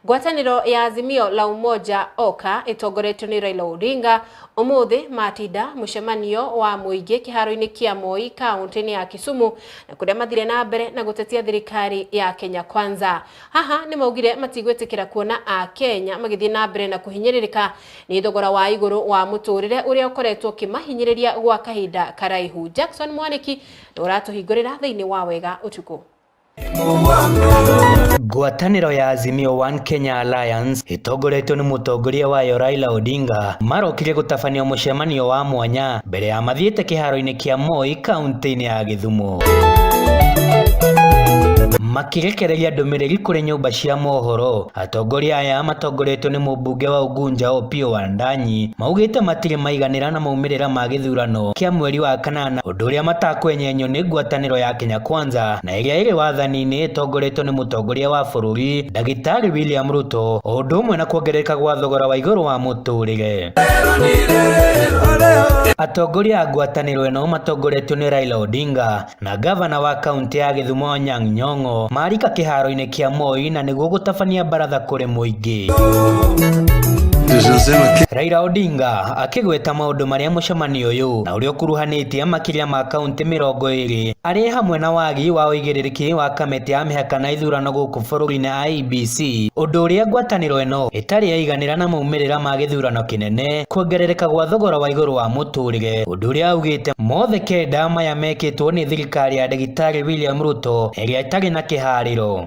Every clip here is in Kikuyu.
Ngwatanĩro ya Azimio la Umoja oka ĩtongoretio nĩ Raila Odinga ũmũthĩ matinda mũcemanio wa mũingĩ kĩharo-inĩ kĩa Moi kaũntĩ-inĩ ya Kisumu na kũrĩa mathire na mbere na gũtetia thirikari ya Kenya Kwanza. Haha nĩ maugire matigwĩtĩkĩra kuona a Kenya magĩthiĩ na mbere na kũhinyĩrĩrĩka nĩ thogora wa igũrũ wa mũtũrĩre ũrĩa ũkoretwo ũkĩmahinyĩrĩria gwa kahinda karaihu. Jackson Mwaniki nĩ ũratũhingũrĩra thĩinĩ wa Wega Ũtukũ. Ngwatanĩro ya Azimio One Kenya Alliance ĩtongoretio nĩ mũtongoria wayo Raila Odinga marokire gũtabania mũcemanio wa mwanya mbere ya mathiĩte kĩharo-inĩ kĩa Moi kaunti-inĩ ya Gĩthumo makĩrekereria ndũmĩrĩri kũrĩ nyũmba cia mohoro atongoria aya matongoretio nĩ mũmbunge wa Ugunja Opiyo Wandanyi maugĩte matirĩ maiganĩra na maumĩrĩra ma gĩthurano kĩa mweri wa kanana ũndũ ũrĩa matakwenyenyo nĩ ngwatanĩro ya Kenya Kwanza na ĩrĩa ĩrĩ wathani-inĩ ĩtongoretio nĩ mũtongoria wa bũrũri ndagĩtarĩ William Ruto o ũndũ ũmwe na kuongerereka gwa thogora wa igũrũ wa mũtũrĩre. Atongoria a ngwatanĩro ĩno matongoretio nĩ Raila Odinga na gavana wa kaunti ya Gĩthumo Anyang' Nyong'o marika kĩharo-inĩ kĩa Moi na nĩguo gũtabania baratha kũrĩ mũingĩ. Raila Odinga akĩgweta maũndũ marĩa mũcemanio ũyũ ũrĩa ũkuruhanĩtie makĩria ma kaũntĩ mĩrongo ĩrĩ arĩ hamwe na wagi wa ũigĩrĩrĩki wa kamĩtĩ ya mĩhaka na ithurano gũkũ bũrũri-inĩ IEBC, ũndũ ũrĩa ngwatanĩro ĩno ĩtarĩ yaiganĩra na maumĩrĩra ma gĩthurano kĩnene, kuongerereka gwa thogora wa igũrũ wa mũtũrĩre, ũndũ ũrĩa augĩte mothe kenda maya mekĩtwo nĩ thirikari ya ndagĩtarĩ William Ruto ĩrĩa ĩtarĩ na kĩharĩro.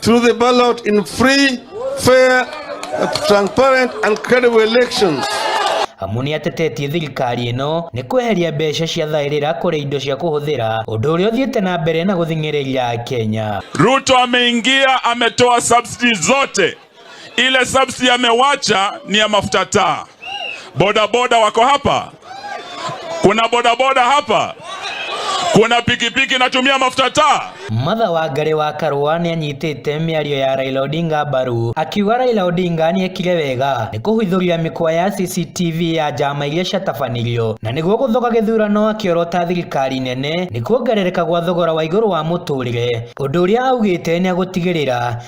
through the ballot in free, fair, transparent and credible elections. amu nĩ atetetie thirikari ĩno nĩ kweheria mbeca cia thaĩrĩra kũrĩ indo cia kũhũthĩra ũndũ ũrĩa ũthiĩte na mbere na gũthing'ĩrĩria Kenya. Ruto ameingia ametoa subsidies zote Ile subsidy amewacha ni ya mafuta taa. Bodaboda wako hapa? Kuna bodaboda hapa? Kuna pikipiki inatumia mafuta taa? Matha Wangari wa Karũa nĩanyitĩte mĩario ya Raila Odinga mbaru akiuga Raila Odinga nĩekire wega nĩ kũhithũria mĩkwa ya CCTV ya njama iria ciatabanirio na nĩguo gũthoga gĩthurano akĩorota thirikari nene nĩ kuongerereka gwa thogora wa igũrũ wa mũtũrĩre ũndũ ũrĩa augĩte nĩagũtigĩrĩra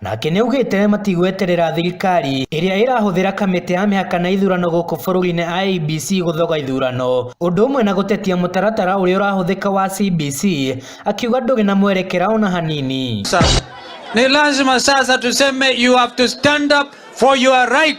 Nake nĩaugĩte matigweterera thirikari ĩrĩa ĩrahũthĩra kamĩtĩ ya mĩhaka na ithurano gũkũ bũrũri-inĩ IEBC gũthoga ithurano, ũndũ ũmwe na gũtetia mũtaratara ũrĩa ũrahũthĩka wa CBC, akiuga ndũrĩ na mwerekera ona hanini. Sasa. Ni lazima sasa tuseme you have to stand up for your right.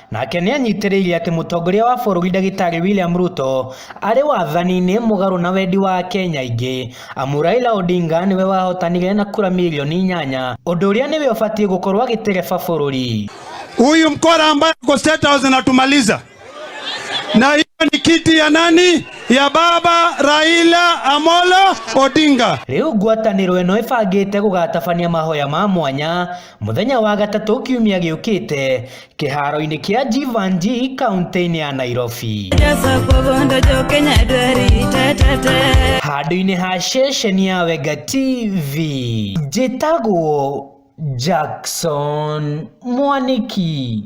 Nake nĩanyitĩrĩire atĩ mũtongoria wa bũrũri ndagĩtarĩ William Ruto arĩ wathani-inĩ mũgarũ na wendi wa Akenya aingĩ amu Raila Odinga nĩwe wahotanire na kura milioni inyanya ũndũ ũrĩa nĩwe ũbatiĩ gũkorwo agĩtereba bũrũri. Huyu mkora ambaye ako State House anatumaliza, na hiyo ni kiti ya nani? Ya baba Raila Amolo Odinga. Rĩu ngwatanĩro ĩno ĩbangĩte gũgatabania mahoya ma mwanya mũthenya wa gatatũ kiumia gĩũkĩte kĩharo-inĩ kĩa Jivanji kaunti-inĩ ya Nairobi. Handũ-inĩ ha ceceni ya Wega TV, njĩtagwo Jackson Mwaniki.